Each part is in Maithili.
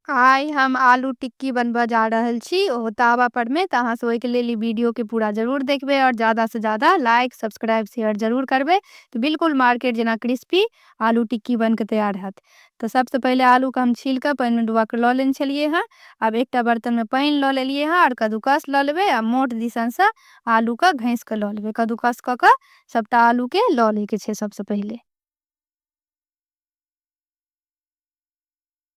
आइ हम आलू टिक्की बनब जा रहल छी ओहो तावा पर मे तऽ अहाँ सब ओहिके लेल ई वीडियो के पूरा जरूर देखबै आओर ज्यादा से ज्यादा लाइक सब्सक्राइब शेयर जरूर करबै तऽ बिल्कुल मार्केट जेना क्रिस्पी आलू टिक्की बन के तैयार हैत तऽ सबसँ पहिले आलू के हम छील कऽ पानि मे डुबा कऽ लऽ लेने छलियै हँ आब एकटा बर्तन मे पानि लऽ लेलियै हँ आओर कद्दूकस लऽ लेबै आ मोट दिसन से आलू के घैस कऽ लऽ लेबै कद्दूकस कऽ कऽ सबटा आलू के लऽ लै के छै सबसँ पहिले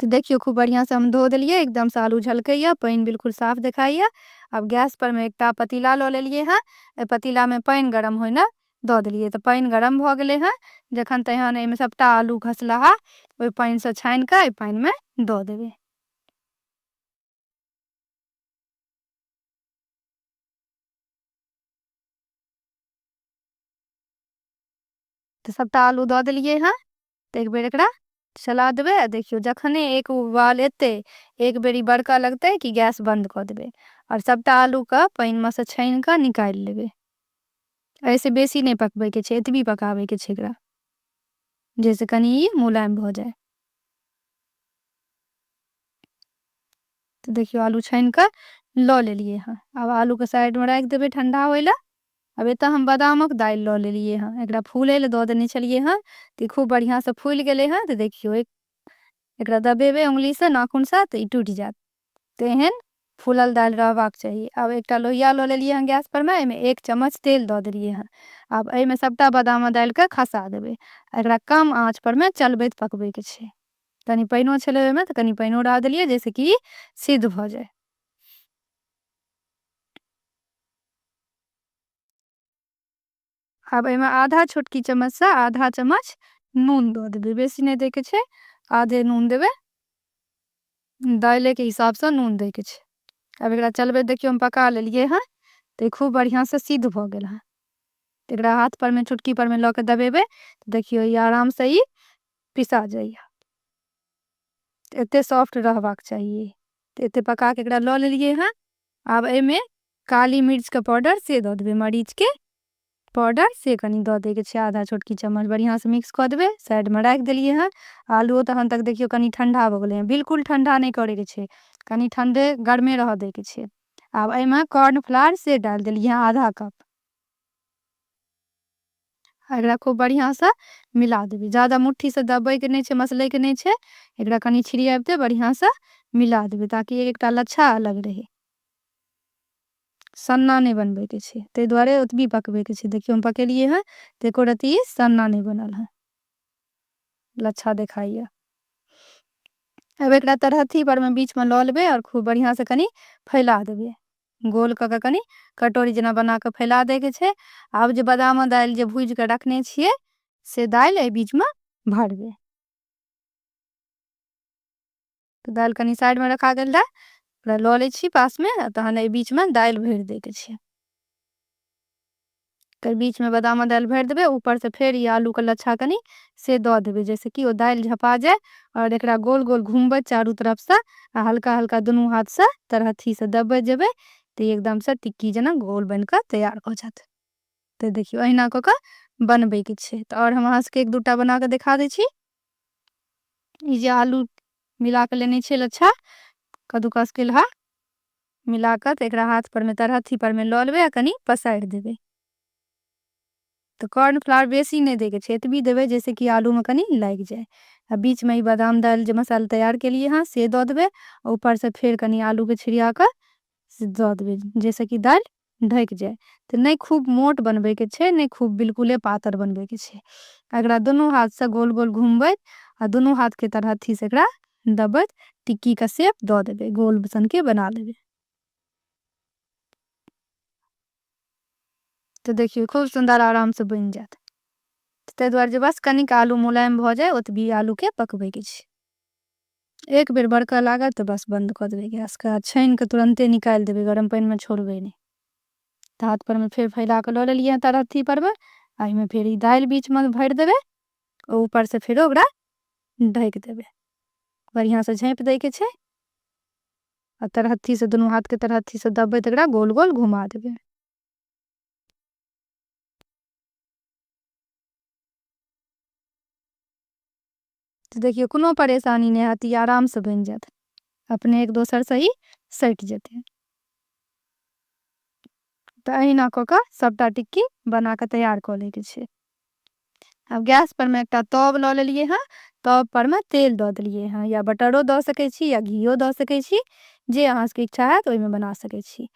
तऽ देखियौ खूब बढ़िआँसँ हम धो देलियै एकदमसँ आलू झलकैए पानि बिलकुल साफ देखाइए आब गैसपर मे एकटा पतीला लऽ लेलियै हँ एहि पतीलामे पानि गरम होइने दऽ देलियै तऽ पानि गरम भऽ गेलै हँ जखन तहन एहिमे सभटा आलू घसलाहा ओहि पानिसँ छानि कऽ एहि पानिमे दऽ देबै तऽ सभटा आलू दऽ देलियै हँ तऽ एक बेर एकरा चला देबै आ देखियौ जखने एक उबाल एतै एक बेर ई बड़कऽ लगतै कि गैस बन्द कऽ देबै आओर सभटा आलूके पानिमे सँ छानि कऽ निकालि लेबै एहिसँ बेसी नहि पकबैके छै एतबी पकाबैके छै एकरा जाहिसँ कनि ई मुलायम भऽ जाय तऽ देखियौ आलू छानि कऽ लऽ लेलियै हँ आब आलूके साइडमे राखि देबै ठण्डा होय लए आब एतय हम बादामक दालि लऽ लेलियै हँ। एकरा फूलय लेल दऽ देने छलियै हँ, तऽ ई खूब बढ़ियाँसँ फूलि गेलै हँ। तऽ देखियौ, एकरा दबेबै अँगुलीसँ, नाखूनसँ, तऽ ई टूटि जायत। तऽ एहन फूलल दालि रहबाक चाही। आब एकटा लोहिया लऽ लेलियै हँ गैसपरमे, एहिमे एक चम्मच तेल दऽ देलियै हँ। आब एहिमे सभटा बादामक दालिकेँ खसा देबै। एकरा कम आँचपरमे चलबैत पकबैके छै। कनि पानिओ छलै ओहिमे, तऽ कनि पानिओ डाल देलियै, जाहिसँ कि ई सिद्ध भऽ जाय। आब एहिमे आधा छोटकी चम्मचसँ आधा चम्मच नून दऽ देबै बेसी नहि दैके छै आधे नून देबै दालिके हिसाबसँ नून दैके छै आब एकरा चलबै देखियौ हम पका लेलिए हँ तऽ खूब बढ़िआँसँ सिद्ध भऽ गेल हँ तऽ एकरा हाथपरमे चुटकीपरमे लऽ कऽ दबेबै तऽ देखियौ ई आरामसँ ई पिसा जाइए एतेक सॉफ्ट रहबाक चाहिए तऽ एतेक पकाके एकरा लऽ लेलिए हँ आब एहिमे काली मिर्चके पाउडर से दऽ देबै मरीचके पाउडर से कनि दऽ दैके छै आधा छोटकी चम्मच बढ़िआँसँ मिक्स कऽ देबै साइडमे राखि देलिए हँ आलुओ तखन तक देखिऔ कनि ठण्डा भऽ गेलै हँ बिल्कुल ठण्डा नहि करैके छै कनि ठण्डे गरमे रहऽ दैके छै आब एहिमे कॉर्नफ्लावर से डालि देलिए हँ आधा कप एकरा खूब बढ़िया से मिला देबे ज्यादा मुट्ठी से दबे के नहीं छे मसले के नहीं छे एकरा कनी छिड़ियाबते बढ़िया से मिला देबे ताकि एक एकटा लच्छा अलग रहे सन्ना नहीं बनबे के छे ते द्वारे ओतबी पकबे के छे देखियो हम पकेलिए है ते एको रति सन्ना नहीं बनल है लच्छा देखाइए अब एकरा तरहथी पर में बीच में लऽ लेबे और खूब बढ़िया से कनी फैला देबे गोल कऽ कऽ कनि कटोरी जेना बना कऽ फैला दैके छै आब जे बादाम दालि जे भूजि कऽ रखने छियै से दालि एहि बीचमे भरबै तऽ दालि कनि साइडमे रखा गेल रहए ओकरा लऽ लै छी पासमे तहन एहि बीचमे दालि भरि दैके छै एकर बीच में बादामक दालि भरि देबै ऊपर से फेर ई आलू के लच्छा कनी से दऽ देबै जाहिसँ कि ओ दालि झपा जाय आओर एकरा गोल गोल घुमबै चारू तरफ से आ हल्का हल्का दुनू हाथ से तरहथी से दबबै जेबै तऽ ई एकदम से टिक्की जेना गोल बनि कऽ तैयार भऽ जायत तऽ देखियौ अहिना कऽ कऽ बनबै के छै तऽ आओर हम अहाँ सबके एक दूटा बना कऽ देखा दै छी ई जे आलू मिला कऽ लेने छियै लच्छा कद्दूकस केलहा मिला कऽ तऽ एकरा हाथ परमे तर हथी परमे लऽ लेबै आ कनि पसारि देबै तऽ कॉर्नफ्लावर बेसी नहि दैके छै एतबी देबै जाहिसँ कि आलूमे कनि लागि जाय आ बीचमे ई बादाम दालि जे मसाला तैयार केलियै हँ से दऽ देबै आ ऊपरसँ फेर कनि आलूके छिड़िया कऽ से दऽ देबै जाहिसँ कि दालि ढकि जाय। तेँ नै खूब मोट बनबै के छै नै खूब बिलकुले पातर बनबै के छै। एकरा दुनू हाथ सँ गोल-गोल घुमबैत आ दुनू हाथ के तरहत्थी सँ एकरा दबबैत टिक्की के शेप दऽ देबै। गोल सन के बना लेबै। तेँ देखियौ खूब सुन्दर आराम सँ बनि जायत। तेँ दुआरे जे बस कनिक आलू मुलायम भऽ जाय ओतबी आलू के पकबै के छै। एक बेर बड़कऽ लागत तऽ बस बन्द कऽ देबै गैसके आ छानि कऽ तुरन्ते निकालि देबै गरम पानिमे छोड़बै नहि तऽ हाथ परमे फेर फैला कऽ लऽ लेलियै तऽ अथी परमे आ एहिमे फेर ई दालि बीचमे भरि देबै आ ऊपरसँ फेरो ओकरा ढकि देबै बढ़िआँसँ झाँपि दैके छै आ तरहत्थीसँ दुनू हाथके तरहत्थीसँ दबबै तऽ एकरा गोल गोल घुमा देबै तऽ देखियौ कोनो परेशानी नहि हैत ई आरामसँ बनि जायत अपने एक दोसरसँ ई सटि जेतै तऽ अहिना कऽ कऽ सभटा टिक्की बना कऽ तैयार कऽ लैके छै आब गैसपर मे एकटा तब लऽ लेलियै हँ तबपर मे तेल दऽ देलियै हँ या बटरो दऽ सकै छी या घीओ दऽ सकै छी जे अहाँ सभके इच्छा हैत ओहिमे बना सकै छी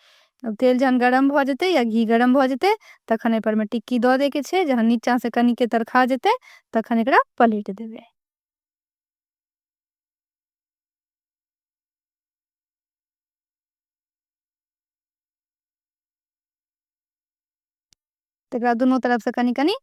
आब तेल जहन गरम भऽ जेतै या घी गरम भऽ जेतै तखन एहिपर मे टिक्की दऽ दै के छै जहन नीचाँ से कनि के तरखा जेतै तखन एकरा पलटि देबै तकरा दुनू तरफसँ कनि कनि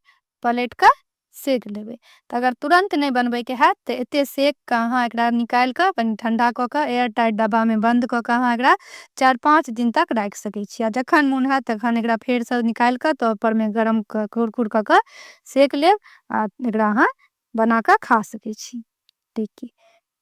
पलटि कऽ सेक लेबै तऽ अगर तुरन्त नहि बनबैके हैत तऽ एतेक सेक कऽ अहाँ एकरा निकालि कऽ कनि ठण्डा कऽ कऽ एयर टाइट डब्बामे बन्द कऽ कऽ अहाँ एकरा चारि पाँच दिन तक राखि सकै छी आ जखन मोन हैत तखन एकरा फेरसँ निकालि कऽ तवपरमे गरम कऽ कुरकुर कऽ कऽ सेक लेब आ एकरा अहाँ बना कऽ खा सकै छी टिक्की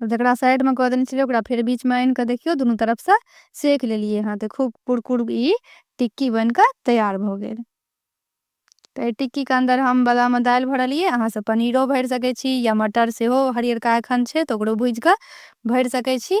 जकरा साइड में कऽ देने छलियै ओकरा फेर बीच में आनि कऽ देखियौ दुनू तरफ से सेक लेलियै हँ तऽ खूब कुरकुर ई टिक्की बनि कऽ तैयार भऽ गेल तऽ एहि टिक्कीके अन्दर हम बादामे दालि भरलियै अहाँसभ पनीरो भरि सकै छी या मटर सेहो हरियरका एखन छै तऽ ओकरो भूजि कऽ भरि सकै छी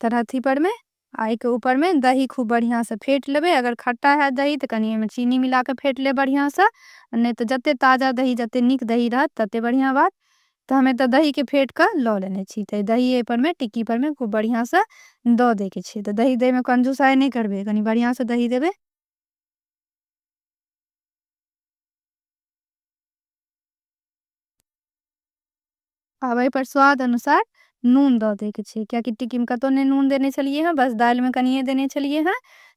तरह थी पर में आई के ऊपर में दही खूब बढ़िया से फेट लेबे अगर खट्टा है दही तो कनी में चीनी मिला के फेट ले बढ़िया से नहीं तो जते ताज़ा दही जते निक दही रहत तते बढ़िया बात तो हमें तो दही के फेट का लो लेने छी तो दही ए पर में टिक्की पर में खूब बढ़िया से दो दे के छी तो दही दे में कंजूस आए नहीं करबे कनी बढ़िया से दही देबे आब एहि पर स्वाद अनुसार नून दऽ दैके छै किएकि टिक्कीमे कतहु नहि नून देने छलिए हँ बस दालिमे कनिए देने छलिए हँ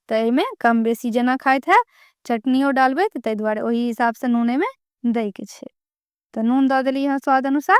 तऽ एहिमे कम बेसी जेना खाइत हएब चटनिओ डालबै तऽ ताहि दुआरे ओहि हिसाबसँ नून एहिमे दैके छै तऽ नून दऽ देलिए हँ स्वाद अनुसार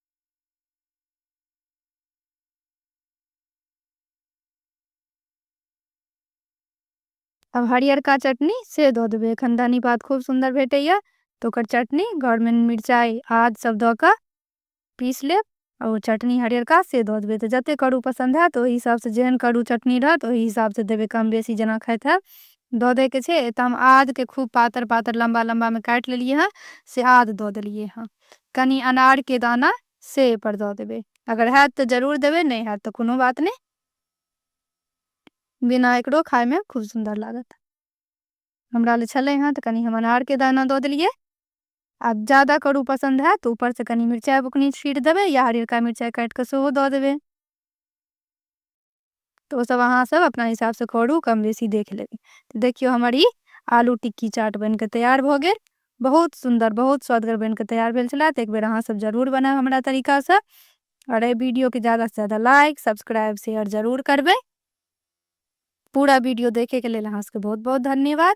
अब हरियरका चटनी से दऽ देबै एखन धनी पात खूब सुन्दर भेटैए तऽ ओकर चटनी घरमे मिरचाइ आद सब दऽ कऽ पीस लेब आ ओ चटनी हरियरका से दऽ देबै तऽ जतेक करू पसन्द हैत ओहि हिसाबसँ जेहन करू चटनी रहत ओहि हिसाबसँ देबै कम बेसी जेना खाइत हैब दऽ दैके छै एतऽ हम आदके खूब पातर पातर लम्बा लम्बामे काटि लेलिए हँ से आद दऽ देलिए हँ कनी अनार के दाना से एहि पर दऽ देबै अगर हैत तऽ जरूर देबै नहि हैत तऽ कोनो बात नहि बिना एकरो खायमे खूब सुन्दर लागत हमरा लए छलै हँ तऽ कनि हम अनारके दाना दऽ देलियै आब ज्यादा करू पसन्द हैत तऽ ऊपरसँ कनि मिरचाइ बुकनी छीट देबै या हरियरका मिरचाइ काटि कऽ सेहो दऽ देबै तऽ ओ सब अहाँ सब अपना हिसाब से करू कम बेसी देख लेबै तऽ देखियौ हमर ई आलू टिक्की चाट बनि कऽ तैयार भऽ गेल बहुत सुन्दर बहुत स्वदगर बनि कऽ तैयार भेल छलए तऽ एक बेर अहाँ सब जरूर बनायब हमरा तरीकासँ आओर एहि वीडियोके ज्यादासँ ज्यादा लाइक सब्सक्राइब शेयर जरूर करबै पूरा वीडियो देखैके लेल अहाँ सबके बहुत बहुत धन्यवाद